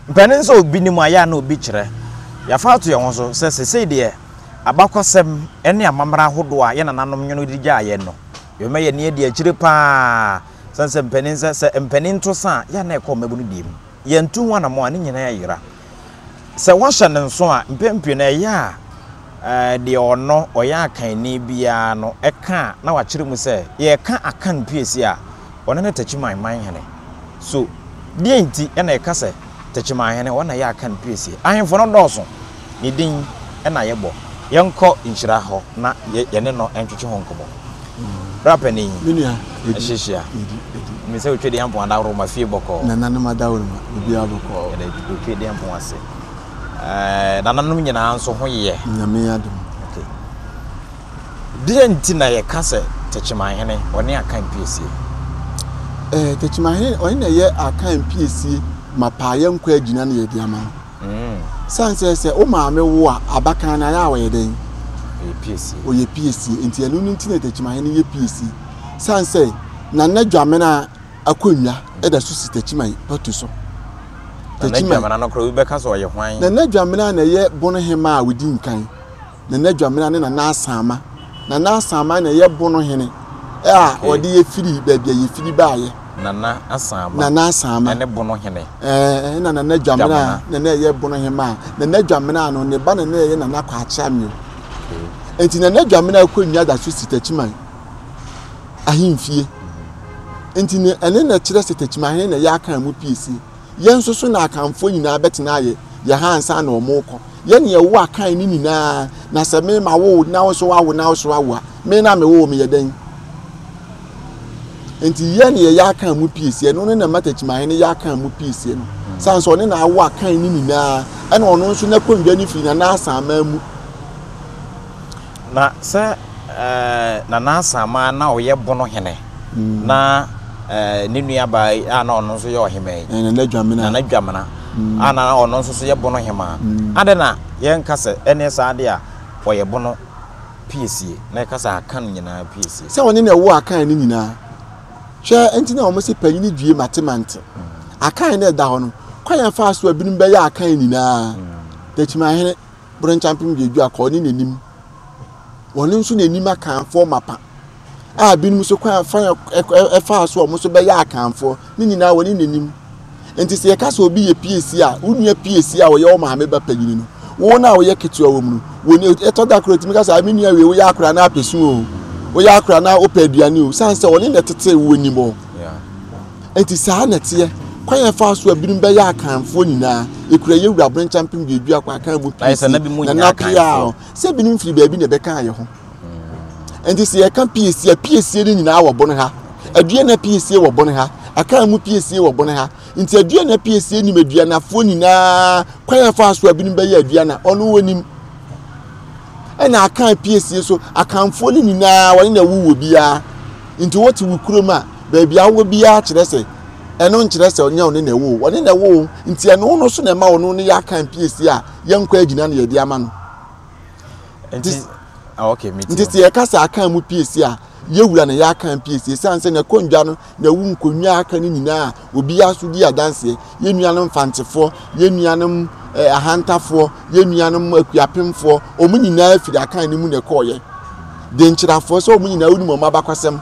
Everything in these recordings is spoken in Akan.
Mpanin nso a obi nim a ɛyɛ a na obi kyerɛ. Yɛafa ato yɛn ho so sɛ seesei deɛ abakɔsɛm ne amammerɛ ahodoɔ a yɛn nananom nwono de gyaa yɛn no, yɛbɛma yɛn ani adi akyire pa ara sɛn sɛ mpanin sɛ sɛ mpanin to sa a, ɛyɛ a na ɛkɔ mmabunu deɛ mu. Yɛantu ho anammɔn a, ne nyinaa ayera. Sɛ wɔhyɛ no nso a, mpɛn pii no ɛyɛ a. deɛ ɔno, ɔyɛ akanni biara no ka a, na wakyerɛ mu sɛ, yɛreka Akan piesie a, ɔno ne Techiman manhene. So deɛn nti na yɛka sɛ Techimanhene, ɔno na ɛyɛ Akan piesie? Ahemfo no dɔɔso, ne din na yɛbɔ. Yɛnkɔ nhyira hɔ na yɛne no ntwetwe ho nkɔmmɔ. Bra panin, ɛhyehyia. Nim sɛ Otwedeampong adaworo ma fie bɔkɔɔ. Nananom adaworo ma obiara bɔkɔɔ. Yɛda Otwedeampong ase. Nananom nyinaa nso ho yɛ. Nyame adom. Okay. Deɛ nti na yɛka sɛ Takyimanhene ɔne Akan piesie? Eh, Takyimanhene ɔne na yɛ Akan piesie ma paayɛ nkɔ agyina na yɛde ama no. Mm. Sane sɛ sɛ wo maame wo a abakan no ayɛ a ɔyɛ dɛn? Ɔyɛ piesie. Ɔyɛ piesie. Nti ɛno no nti na Takyimanhene yɛ piesie. Sane sɛ Nana Dwamena akonnwa da so si Takyiman patu so. Nana Dwamena no koraa obi bɛka sɛ ɔyɛ hwan? Nana Dwamena na ɛyɛ Bono Hemmaa a ɔdi nkan. Nana Dwamena ne Nana Asaama. Nana Asaama na ɛyɛ Bono Hene a wɔde yɛ firi baabi a yɛfiri baeɛ. Nana Asaama. Nana Asaama. Ɛne Bono Hene. Ɛɛ na Nana Dwamena na na ɛyɛ Bono Hemmaa. Nana Dwamena no ne ba na na ɛyɛ Nana Kwakyeameo. Nti Nana Dwamena akonnwa da so si Takyiman. ahemfie. Nti ne ɛne na ɛkyerɛ sɛ Takyimahe na ɛyɛ Akan mu piesie. Yɛn nso so na Akanfoɔ nyinaa bɛtena ayɛ yɛn ha ansa na wɔn rekɔ. Yɛn na yɛwo Akan no nyinaa na sɛ me ma wo na wo nso wawo na wo nso awo a me na mewoo me yɛ dɛn? Nti yɛn na yɛyɛ Akan mu piesie no ne na ɛma Takyimahe no yɛ Akan mu piesie no. San sɛ ɔne na awo Akan no nyinaa ɛna ɔno nso n'akonnwa no firi Nana Asaman mu. Na sɛ Nana Asaama a na ɔyɛ Bono hene na ne nuabaa yi a na ɔno nso yɛ ɔhemmaa yi, Nana Dwamena, Nana Dwamena a na ɔno nso so yɛ Bono hemmaa, adɛn na yɛnka sɛ ɛnneɛ saa deɛ a ɔyɛ Bono piesie na yɛka sɛ Akan nyinaa piesie? Sɛ ɔne na ɛwɔ Akan no nyinaa. Hwɛ nti na wɔse panyini due mate mante. Akan na ɛda hɔ no, kwan a ɛfaa so a binom bɛyɛ Akan nyinaa, Dakyimahene, boro nkyɛmpem du du a kɔɔ ne n'anim. Wɔn nso na anim akanfoɔ mapa a binom so kwan fa ɛfaa so a wɔn nso bɛyɛ akanfoɔ ne nyinaa wɔne n'anim. Nti sɛ yɛka sɛ obi yɛ piesie a, wo nua piesie a ɔyɛ wo maame ba panyini no, wo no a woyɛ ketewa wɔ mu no, wɔne ɛtɔ da koraa otumi ka sɛ, me nua wei woyɛ akora na apɛsu o, woyɛ akora na wopɛ aduane o, sane sɛ ɔne na ɛtetee wo anim hɔ. Yeah. Enti saa na ɛteɛ. Kwan a ɛfaa so a binom bɛyɛɛ Akanfoɔ nyinaa, ɛkura yɛn wura Brenkyɛn mpem duadu akɔ Akan mu pii si na na peaa o, sɛ binom firi baabi na ɛbɛkaa yɛn ho. Enti sɛ yɛka piesie a, piesie no nyinaa wɔ bone ha. Aduana piesie wɔ bone ha. Akan mu piesie wɔ bone ha. Nti aduana piesie nim aduanafoɔ nyinaa, kwan a ɛfaa so a binom bɛyɛɛ aduana, ɔno ɔnim. Ɛna Akan piesie so, Akanfoɔ no nyinaa, wɔne na ɛwowɔ biara. Nti wote wo kurom a, Baabi a wowɔ biara kyerɛ sɛ ɛno nkyerɛ sɛ ɔnyɛ ɔne na ɛwɔ o, ɔne na ɛwɔ o, nti ɛno no so na ɛma ɔno no yɛ aka mpiesie a yɛnkɔ agyina na yɛde ama no. Nti ah, nti sɛ yɛka sɛ aka mu piesie a yɛwura na yɛ aka mpiesie sane sɛ na ɛkɔ ndwa no na ɛwu nkonnwa aka no nyinaa obiara so di adanseɛ yɛn nuanom fantefoɔ yɛn nuanom eh, ahantafoɔ yɛn nuanom akuapemfoɔ wɔn nyinaa firi akan no mu na ɛkɔɔyɛ denkyerɛfoɔ sɛ wɔn nyinaa wonim wɔn abakɔsɛm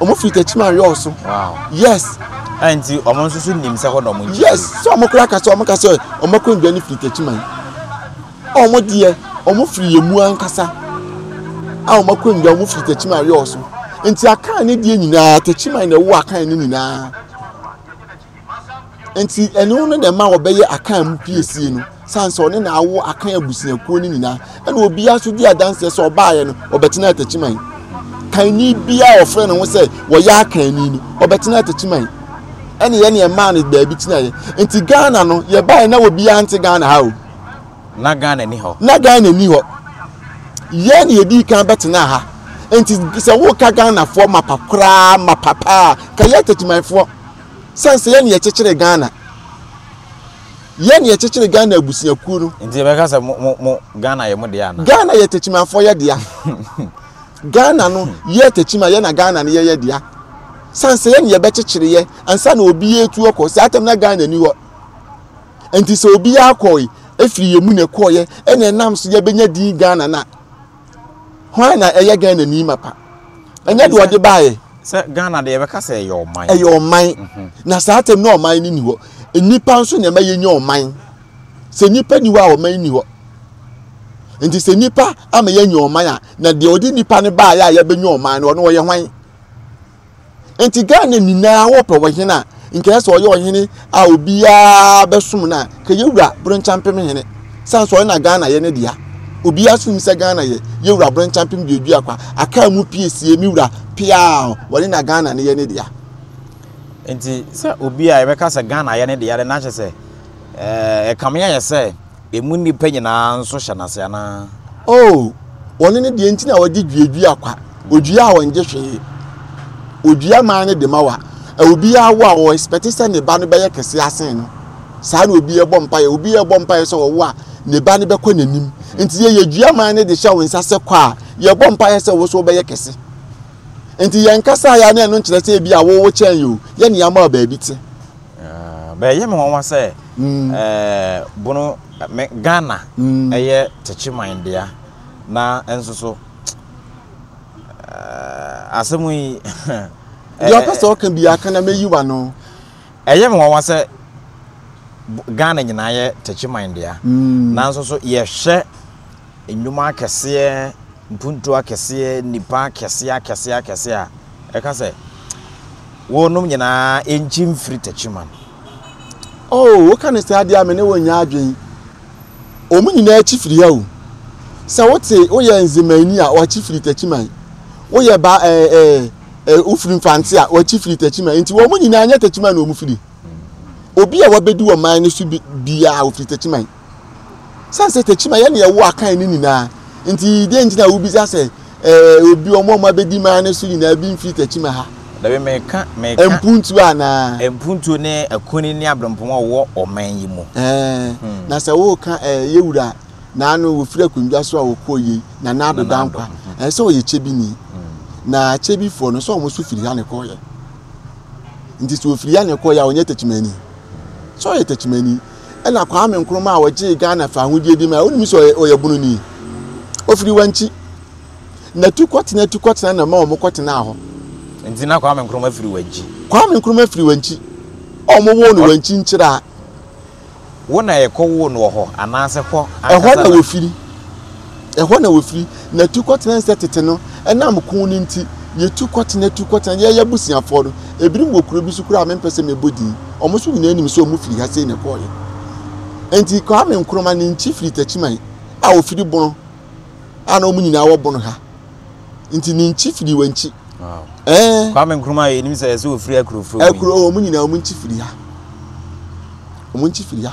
wɔn firi tɛkyima ayɔɔ so yes. ɛn nti wɔn nso so nim sɛ hɔ na wɔn nkyɛn. yes sɛ wɔn kura kasa wɔn kasa wɔn akɔ ndua no firi tɛkyima yi a wɔn deɛ wɔn firi yɛn mu ankasa a wɔn akɔ ndua wɔn firi tɛkyima ayɔɔ so nti akan ne deɛ nyinaa tɛkyima na ɛwɔ akan ne nyinaa. nti ɛne wo no na ɛma wɔbɛyɛ akan mu piesie no san sɛ ɔne na awo akan abusuakuo no nyinaa ɛna obiara nso di adanseɛ sɛ ɔbaayɛ no ɔbɛtena atakyiman kanni biara ɔfrɛ ne ho sɛ wɔyɛ akanni no ɔbɛtena atakyiman ɛna yɛ ne ɛmaa no baabi tenaeɛ nti ghana no yɛbaeɛ na obiara nte ghana ha o na ghana ni hɔ na ghana ni hɔ yɛ ne yɛdi kan bɛtena ha nti sɛ woka ghanafoɔ mapa koraa mapa paa ka yɛ atakyimanfoɔ Sɛn sɛ yɛne yɛkyekyere Ghana. Yɛne yɛkyekyere Ghana abusuakuo no. Nti yɛbɛka sɛ mo, mo, mo, Ghana yɛ mo deɛ anaa? Ghana yɛ Tekyimafoɔ yɛ dea. Ghana no yɛ Tekyima yɛ na Ghana no yɛ yɛ dea. Sɛn sɛ yɛne yɛbɛkyekyere yɛ ansa na obi atu akɔ. Saa tam na Ghana ni hɔ. Nti sɛ obi akɔe, ɛfiri yɛ mu na ɛkɔeɛ, ɛna ɛnam so yɛbɛnya din Ghana no a. hwan na ɛyɛ ghana ni mapa ɛnyɛ deɛ ɔde baayɛ sɛ ghana deɛ yɛbɛka sɛ ɛyɛ ɔman ɛyɛ ɔman mhm. na saa tɛm na ɔman no ni hɔ nnipa nso na ɛma yɛnya ɔman sɛ nnipa ni hɔ a ɔman ni hɔ nti sɛ nnipa ama yɛanya ɔman a na deɛ ɔde nnipa no baayɛ a yɛbɛnya ɔman no ɔno ɔyɛ hwan nti ghana nyinaa wɔpɛ ɔhene a nkɛyɛ sɛ ɔyɛ ɔhene a obiara bɛsom no a kɛyɛ wura berenkyampem hene sane sɛ ɔyɛ na ghana yɛ ne dea obiara so nim sɛ ghana yɛ yɛ wura berenkyampem deɛ dua kwa akaa mu pie sie me wura piaa wɔne na ghana ne yɛ ne dea nti sɛ obi a yɛbɛka sɛ ghana yɛ ne dea de na ahyɛ sɛ ɛkame ayɛ sɛ Emu nnipa nyinaa nso hyɛ no ase anaa? Oo, wɔno ne deɛ nti na wɔde dua dua kwa, odua a ɔngye hwee. Odua man no dema wa. Ɛ obiara wo a, ɔ expect sɛ ne ba no bɛyɛ kɛseɛ asen no. Saa na obiara bɔ mpaeɛ. Obiara bɔ mpaeɛ sɛ ɔwo a, ne ba no bɛkɔ n'anim. Nti yɛ yɛ dua man no de hyɛ wo nsa sɛ kɔ a, yɛ bɔ mpaeɛ sɛ wo nso wobɛyɛ kɛse. Nti yɛ nkasaeɛ a na ɛno nkyerɛ sɛ ebi a wo wo kyɛn yɛ o, yɛ nea ama wo baabi te. Bɛyɛ me nwanwa sɛ bono me Ghana yɛ tɛkyi man dea na nso so asɛm yi Deɛ ɔpɛ sɛ ɔka biara ka na mɛyi w'ano. Ɛyɛ me nwanwa sɛ Ghana nyinaa yɛ tɛkyi man dea na nso so yɛhwɛ nnwuma akɛseɛ, mpuntuo akɛseɛ, nnipa akɛseɛ akɛseɛ akɛseɛ a, ɛka sɛ, Wonom nyinaa nkyi mfiri Techiman. Oh, woka no saa deɛ a, me ne wo nyɛ adwen. Wɔn nyinaa kyi firi ha o. Sɛ wote, woyɛ Nzemani a, wakyi firi Techiman. Woyɛ ba, eh, eh, eh, wofiri Mfantse a, wakyi firi Techiman. Enti wɔn nyinaa nyɛ Techiman na wɔn firi. Obi a wabɛdi wɔn man no so bi, biara, ofiri Techiman. San sɛ takyima yɛ nea ɛwɔ akan no nyinaa. Nti dɛn nti na wubisa sɛ ɛɛ obi wɔn a wɔabedi maa no so nyinaa bi mfiri takyima ha? Dabi, meka, meka. Mpuntuo anaa? Mpuntuo ne akunini ne aberempɔn a wɔwɔ ɔman yi mu. Ɛɛ, hmm. na sɛ woreka ɛɛ yɛwura na ano wɔfiri akonnwa so a wɔkɔɔ yei na na ado da nkwa. Hmm. Ɛɛ sɛ ɔyɛ kyebini. Hmm. Na kyebifoɔ no sɛ wɔn nso firi ha na ɛkɔɔyɛ. Nti sɛ wɔfiri ha na ɛkɔɔyɛ a wɔnyɛ takyimani. Sɛ ɔyɛ takyimani ɛna Kwame Nkrumah a ɔgyee Ghana faa ahodie de mae. Wonim sɛ ɔyɛ ɔyɛ bunu ni. Ofiri wankyi. Na tu kɔtena tu kɔtena na ma wɔn kɔtenaa hɔ. Nti na Kwame Nkrumah firi wankyi. Kwame Nkrumah firi wankyi. Wɔn woo no wankyi nkyiraa. Wo na yɛkɔ woo no wɔ hɔ anaasɛ hɔ ankasa na. Ɛhɔ na wɔfiri. Ɛhɔ na wɔfiri, na tu kɔtena nsɛ tete no. Ɛnam ko no nti, yɛtu kɔtena, tu kɔtena. Yɛn abusuafoɔ no, ebinom wɔ kuro bi so koraa a mempɛ sɛ mebɔ din. Wɔn nso nyinaa nim sɛ wɔfiri ha sei na ɛkɔeɛ. Enti Kwame Nkrumah ne nkyi firi Takyiman a wɔfiri Bono a na wɔn nyinaa wɔ Bono ha. Nti ne nkyi firi wɔ nkyi. Ɛɛ. Kwame Nkrumah yɛ nim sɛ ɛsɛ wɔfiri akurofuro mu. Akuro wɔn nyinaa wɔn nkyi firi ha. Wɔn nkyi firi ha.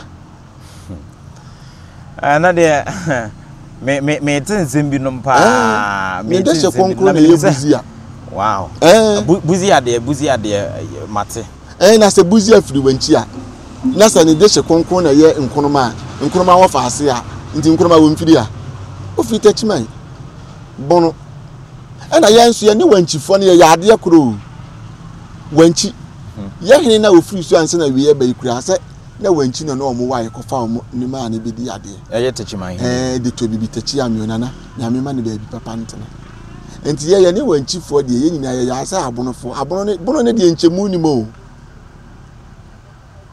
Ɛno deɛ me me me te nsɛm binom paa. Me te nsɛm binom na menim sɛ. Wow. Buzi adeɛ buzi adeɛ mate. Ɛn na sɛ buzi afiri wankyi a na sɛ ne de hyɛ kronkron na ɛyɛ nkonoma a nkonoma wɔ fa ase a nti nkonoma wɔ mfiri a ofiri takyiman bono ɛna yɛn nso yɛne wankyifoɔ no yɛyɛ adeɛ koroo wankyi hmm. yɛhene na ofiri so ansa na wie ɛbɛyi koraa sɛ na wɔn akyi no na wɔn wae kɔfa wɔn nneɛma a ne bɛdi adeɛ. Ɛyɛ tekyima he. Ɛɛ de tɔ bibi tekyi ameo nana nyame ma ne baabi papa ntena. Nti yɛyɛ ne wɔn akyifoɔ deɛ yɛn nyinaa yɛyɛ asɛ abonofoɔ abono ne bono ne deɛ nkyɛmu nim o.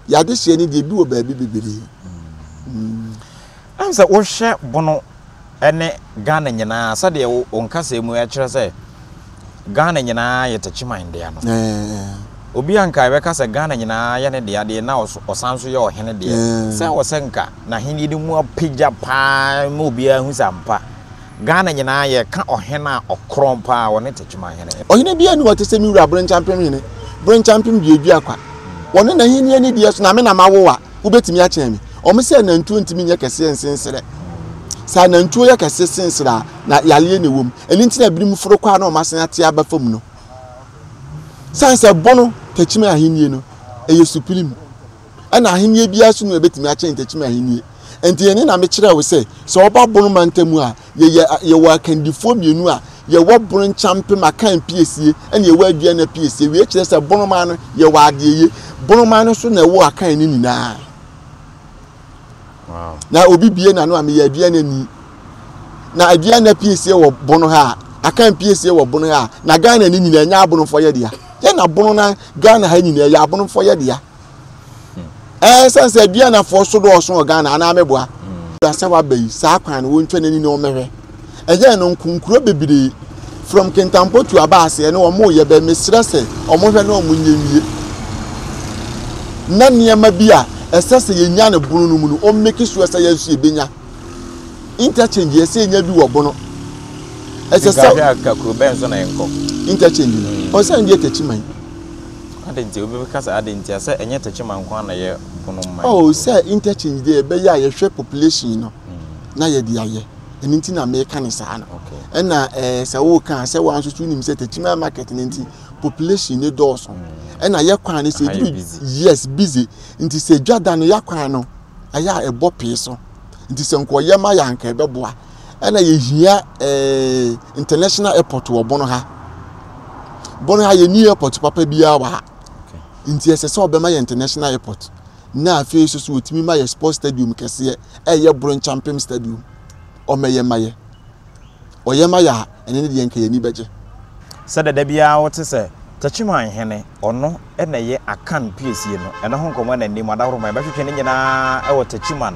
Yɛade hyeɛ ne deɛ bi wɔ baabi bebree. Mm. Ɛm sɛ wohwɛ bono ne Ghana nyinaa sɛdeɛ wo wo nkasɛɛ mu ɛkyerɛ sɛ Ghana nyinaa yɛ Techiman dea no. Obi anka ɛbɛka sɛ Ghana nyinaa yɛ ne dea deɛ na ɔsan nso yɛ ɔhene deɛ sɛ wɔ sɛ nka n'ahennie no mu apagya paa ma obiara ahu sɛ ampa Ghana nyinaa yɛka ɔhene a ɔkorɔn paa ɔne Techiman hene. Ɔhene biara nni hɔ te sɛ me wura Brenkyampenhene Brenkyampenduaduakwa, ɔne n'ahennie ne deɛ so na me na mawowa. wobɛtumi akyɛn me ɔmo sɛ nantuo ntumi nyɛ kɛseɛ nsen serɛ sɛ nantuo yɛ kɛse sen serɛ a na yareɛ na ɛwɔ mu ɛno nti na ebinom foro kɔ a na ɔmo asen ate aba fam no san sɛ bono takyimi ahennie no ɛyɛ supreme ɛna ahennie biara so no ɛbɛtumi akyɛn takyimi ahennie nti ɛne na mekyerɛ wo sɛ sɛ ɔba bono mantam a Yɛyɛ a, yɛwɔ akandifoɔ mmienu a yɛwɔ bono nkyampem akan piesie ɛna yɛwɔ aduana piesie. Wei kyerɛ sɛ bonomaa no yɛwɔ adeɛyie. Bonomaa no nso na ɛwɔ akan no nyinaa. Wow. Na obi bie n'ano a meyɛ aduana ni. Na aduana piesie wɔ bono ha a, akan piesie wɔ bono ha a, na Ghana no nyinaa ɛnyɛ abonofoɔ yɛ dea. Yɛ na bono na Ghana ha nyinaa ɛyɛ abonofoɔ yɛ dea. ɛɛ eh, sɛ aduanafoɔ so dɔɔso wɔ ghana anaa mɛboa hmm. asɛ waba yi saa kwan no wɔntwa n'ani na wɔmmɛhwɛ ɛyɛ no nkonkuro bebree from kentampo to aba aseɛ ne wɔn yɛ bɛ mesrɛ sɛ wɔn hwɛ na wɔn nyɛ wie na nneɛma bi a ɛsɛ sɛ yɛnya no bono no mu no wɔn mmeki soɔ sɛ yɛn nso yɛbɛnya interchange yɛ sɛ yɛnya bi wɔ bono ɛsɛ sɛ interchange no wɔn sɛ ɛdeɛ tɛkyi man Adɛn nti? Obi bɛka sɛ, Adɛn ntia? Sɛ ɛnyɛ tɛkyima nko ara na ɛyɛ bono mma yɛn. Oh, sɛ interchange deɛ ɛbɛyɛ a yɛhwɛ population no na yɛde ayɛ. Ɛno nti na meka no saa no. Ɛna ɛɛ sɛ woka a, sɛ wo ara nso so wonim sɛ tɛkyima market no nti, population no dɔɔso. Ɛna yɛ kwan no sɛ Ɛha yɛ ɛduru busy. yes busy nti sɛ dwa da no yɛ kwan no ɛyɛ a ɛbɔ pee so nti sɛ nka ɔyɛ ma yɛ a anka ɛbɛboa ɛna yɛhia eh, international airport wɔ bɔno ha bɔno ha yɛni airport papa biara wɔ ha nti ɛsɛ sɛ ɔbɛma yɛ international airport na afei so so wɔtumi ma yɛ sports stadium kɛseɛ ɛyɛ boro nkyampem stadium ɔmɛyɛ ma yɛ ɔyɛ ma yɛ a ɛno ne deɛ anka yɛn ani bɛgye. Sɛdeɛ da biara wote sɛ Techiman hene, ɔno na ɛyɛ Akan piesie no, ɛno ho nkɔmmɔ na nnim, adahoroman bɛtwetwe ne nyinaa wɔ Techiman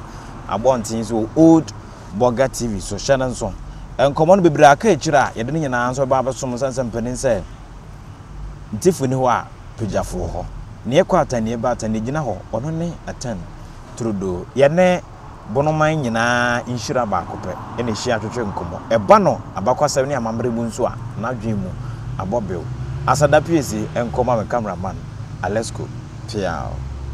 abɔnten so wɔ Old Bɔga TV so, hyɛ no nso. Nkɔmmɔ no bebree aka akyire a yɛde ne nyinaa nso bɛba abɛsom sane sɛ mpanin sɛ Ntifoɔ nni hɔ a Pagyafo wɔ hɔ, Neɛ kɔ Aten neɛ ba Aten neɛ gyina hɔ, ɔno ne Aten Trudeau. Yɛne. Bonoman nyinaa nhyira baako pɛ na ehyia twetwe nkɔmmɔ. Ɛba no abakɔsɛm ne amammerɛ mu nso a, n'adwene mu abɔ bew. Asada pue se nkɔ ma me camera man, Alesco, peaw.